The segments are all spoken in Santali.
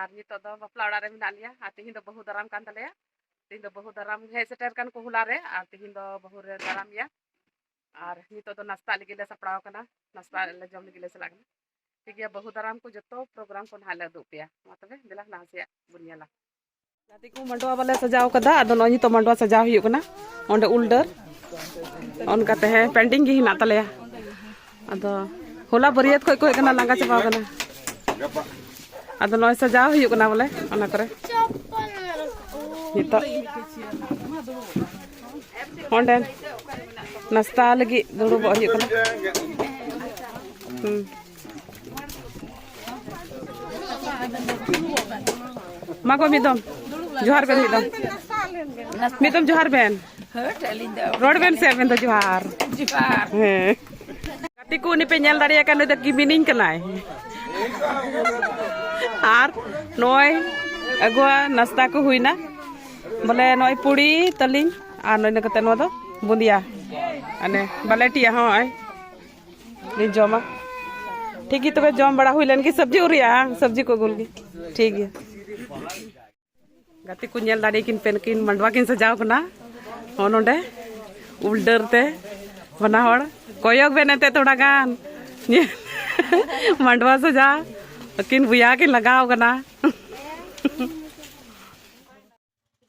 ᱟᱨ ᱱᱤᱛᱚᱜ ᱫᱚ ᱵᱟᱯᱞᱟ ᱚᱲᱟᱜ ᱨᱮ ᱢᱮᱱᱟᱜ ᱞᱮᱭᱟ ᱟᱨ ᱛᱤᱦᱤᱧ ᱫᱚ ᱵᱟᱹᱦᱩ ᱫᱟᱨᱟᱢ ᱠᱟᱱ ᱛᱟᱞᱮᱭᱟ ᱛᱤᱦᱤᱧ ᱫᱚ ᱵᱟᱹᱦᱩ ᱫᱟᱨᱟᱢ ᱦᱮᱡ ᱥᱮᱴᱮᱨ ᱠᱟᱱ ᱠᱚ ᱦᱚᱞᱟ ᱨᱮ ᱟᱨ ᱛᱤᱦᱤᱧ ᱫᱚ ᱵᱟᱹᱦᱩ ᱨᱮ ᱫᱟᱨᱟᱢ ᱮᱭᱟ ᱟᱨ ᱱᱤᱛᱚᱜ ᱫᱚ ᱱᱟᱥᱛᱟᱜ ᱞᱟᱹᱜᱤᱫ ᱞᱮ ᱥᱟᱯᱲᱟᱣ ᱠᱟᱱᱟ ᱱᱟᱥᱛᱟ ᱞᱮ ᱡᱚᱢ ᱞᱟᱹᱜᱤᱫ ᱞᱮ ᱪᱟᱞᱟᱜ ᱠᱟᱱᱟ ᱴᱷᱤᱠ ᱜᱮᱭᱟ ᱵᱟᱹᱦᱩ ᱫᱟᱨᱟᱢ ᱠᱚ ᱡᱚᱛᱚ ᱯᱨᱳᱜᱨᱟᱢ ᱠᱚ ᱱᱟᱦᱟᱜ ᱞᱮ ᱩᱫᱩᱜ ᱟᱯᱮᱭᱟ ᱢᱟ ᱛᱚᱵᱮ ᱫᱮᱞᱟ ᱞᱟᱦᱟ ᱥᱮᱭᱟᱜ ᱵᱚᱱ ᱧᱮᱞᱟ ᱜᱟᱛᱮ ᱠᱚ ᱢᱟᱰᱣᱟ ᱵᱟᱞᱮ ᱥᱟᱡᱟᱣ ᱠᱟᱫᱟ ᱟᱫᱚ ᱱᱚᱜᱼᱚᱭ ᱱᱤᱛᱚᱜ ᱢᱟᱰᱣᱟ ᱥᱟᱡᱟᱣ ᱦᱩᱭᱩᱜ ᱠᱟᱱᱟ ᱚᱸᱰᱮ ᱩᱞ ᱰᱟᱹᱨ ᱚᱱᱠᱟ ᱛᱮ ᱦᱮᱸ ᱯᱮᱱᱰᱤᱝ ᱜᱮ ᱦᱮᱱᱟᱜ ᱛᱟᱞᱮᱭᱟ ᱟᱫᱚ ᱦᱚᱞᱟ ᱵᱟᱹᱨᱭᱟᱹᱛ ᱠᱷᱚᱡ ᱠᱚ ᱦᱮᱡ ᱠᱟᱱᱟ ᱞᱟᱸᱜᱟ ᱪᱟᱵᱟᱣ ᱠᱟᱱᱟ ᱟᱫᱚ ᱱᱚᱜᱼᱚᱭ ᱥᱟᱡᱟᱣ ᱦᱩᱭᱩᱜ ᱠᱟᱱᱟ ᱵᱚᱞᱮ ᱚᱱᱟ ᱠᱚᱨᱮ ᱱᱤᱛᱚᱜ ᱚᱸᱰᱮ ᱱᱟᱥᱛᱟ ᱞᱟᱹᱜᱤᱫ ᱫᱩᱲᱩᱵᱚᱜ ᱦᱩᱭᱩᱜ ᱠᱟᱱᱟ ᱦᱩᱸ ᱢᱟ ᱜᱚ ᱢᱤᱫ ᱫᱚᱢ ᱡᱚᱦᱟᱨ ᱵᱮᱱ ᱢᱤᱫ ᱫᱚᱢ ᱢᱤᱫ ᱫᱚᱢ ᱡᱚᱦᱟᱨ ᱵᱮᱱ ᱨᱚᱲ ᱵᱮᱱ ᱥᱮ ᱟᱵᱮᱱ ᱫᱚ ᱡᱚᱦᱟᱨ ᱦᱮᱸ ᱜᱟᱛᱮ ᱠᱚ ᱩᱱᱤ ᱯᱮ ᱧᱮᱞ ᱫᱟᱲᱮᱭᱟᱭ ᱠᱟᱱ ᱱᱩᱭ ᱫᱚ ᱠᱤᱢᱤᱱᱤᱧ ᱠᱟᱱᱟᱭ ᱟᱨ ᱱᱚᱜᱼᱚᱭ ᱟᱹᱜᱩᱣᱟᱜ ᱱᱟᱥᱛᱟ ᱠᱚ ᱦᱩᱭᱱᱟ ᱵᱚᱞᱮ ᱱᱚᱜᱼᱚᱭ ᱯᱩᱲᱤ ᱛᱟᱹᱞᱤᱧ ᱟᱨ ᱱᱚᱜᱼᱚᱭ ᱠᱟᱛᱮ ᱱᱚᱣᱟ ᱫᱚ ᱵᱩᱸᱫᱤᱭᱟ ᱟᱱᱮ ᱵᱟᱞᱮᱴᱤᱭᱟ ᱦᱚᱸ ᱱᱚᱜᱼᱚᱭ ᱞᱤᱧ ᱡᱚᱢᱟ ᱴᱷᱤᱠ ᱜᱮ ᱛᱚᱵᱮ ᱡᱚᱢ ᱵᱟᱲᱟ ᱦᱩᱭ ᱞᱮᱱ ᱜᱮ ᱥᱚᱵᱽᱡᱤ ᱩᱨᱤᱭᱟ ᱥᱚᱵᱽᱡᱤ ᱠᱚ ᱟᱹᱜᱩᱞ ᱜᱮ ᱴᱷᱤᱠ ᱜᱮᱭᱟ ᱜᱟᱛᱮ ᱠᱚ ᱧᱮᱞ ᱫᱟᱲᱮ ᱠᱤᱱ ᱯᱮ ᱠᱤᱱ ᱢᱟᱰᱣᱟ ᱠᱤᱱ ᱥᱟᱡᱟᱣ ᱠᱟᱱᱟ ᱦᱚᱸ ᱱᱚᱰᱮ ᱩᱞ ᱰᱟᱹᱨ ᱛᱮ ᱵᱟᱱᱟ ᱦᱚᱲ ᱠᱚᱭᱚᱜ ᱵᱮᱱ ᱮᱱᱛᱮ ᱛᱷᱚᱲᱟ ᱜᱟᱱ ᱢᱟᱰᱣᱟ ᱥᱟᱡᱟᱣ ᱟᱹᱠᱤᱱ ᱵᱚᱭᱟ ᱠᱤᱱ ᱞᱟᱜᱟᱣ ᱠᱟᱱᱟ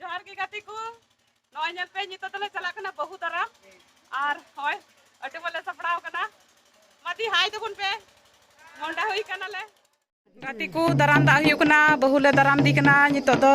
ᱡᱚᱦᱟᱨ ᱜᱮ ᱜᱟᱛᱮ ᱠᱚ ᱱᱚᱜᱼᱚᱭ ᱧᱮᱞ ᱯᱮ ᱱᱤᱛᱚᱜ ᱫᱚᱞᱮ ᱪᱟᱞᱟᱜ ᱠᱟᱱᱟ ᱵᱟᱹᱦᱩ ᱫᱟᱨᱟᱢ ᱟᱨ ᱦᱚᱭ ᱟᱹᱰᱤ ᱵᱚᱞᱮ ᱥᱟᱯᱲᱟᱣ ᱠᱟᱱᱟ ᱢᱟᱫᱤ ᱦᱟᱭ ᱫᱚᱵᱚᱱ ᱯᱮ ᱢᱚᱱᱰᱟ ᱦᱩᱭ ᱠᱟᱱᱟᱞᱮ ᱜᱟᱛᱮ ᱠᱚ ᱫᱟᱨᱟᱢ ᱫᱟᱜ ᱦᱩᱭᱩᱜ ᱠᱟᱱᱟ ᱵᱟᱹᱦᱩ ᱞᱮ ᱫᱟᱨᱟᱢ ᱫᱤ ᱠᱟᱱᱟ ᱱᱤᱛᱚᱜ ᱫᱚ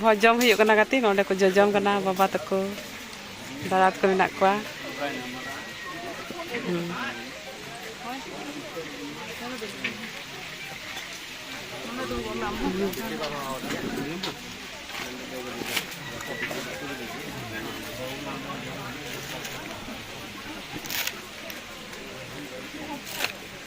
ᱵᱷᱚᱡᱽ ᱡᱚᱢ ᱦᱩᱭᱩᱜ ᱠᱟᱱᱟ ᱜᱟᱛᱮ ᱱᱚᱰᱮ ᱠᱚ ᱡᱚᱡᱚᱢ ᱠᱟᱱᱟ ᱵᱟᱵᱟ ᱛᱟᱠᱚ ᱫᱟᱫᱟ ᱛᱟᱠᱚ ᱢᱮᱱᱟᱜ ᱠᱚᱣᱟ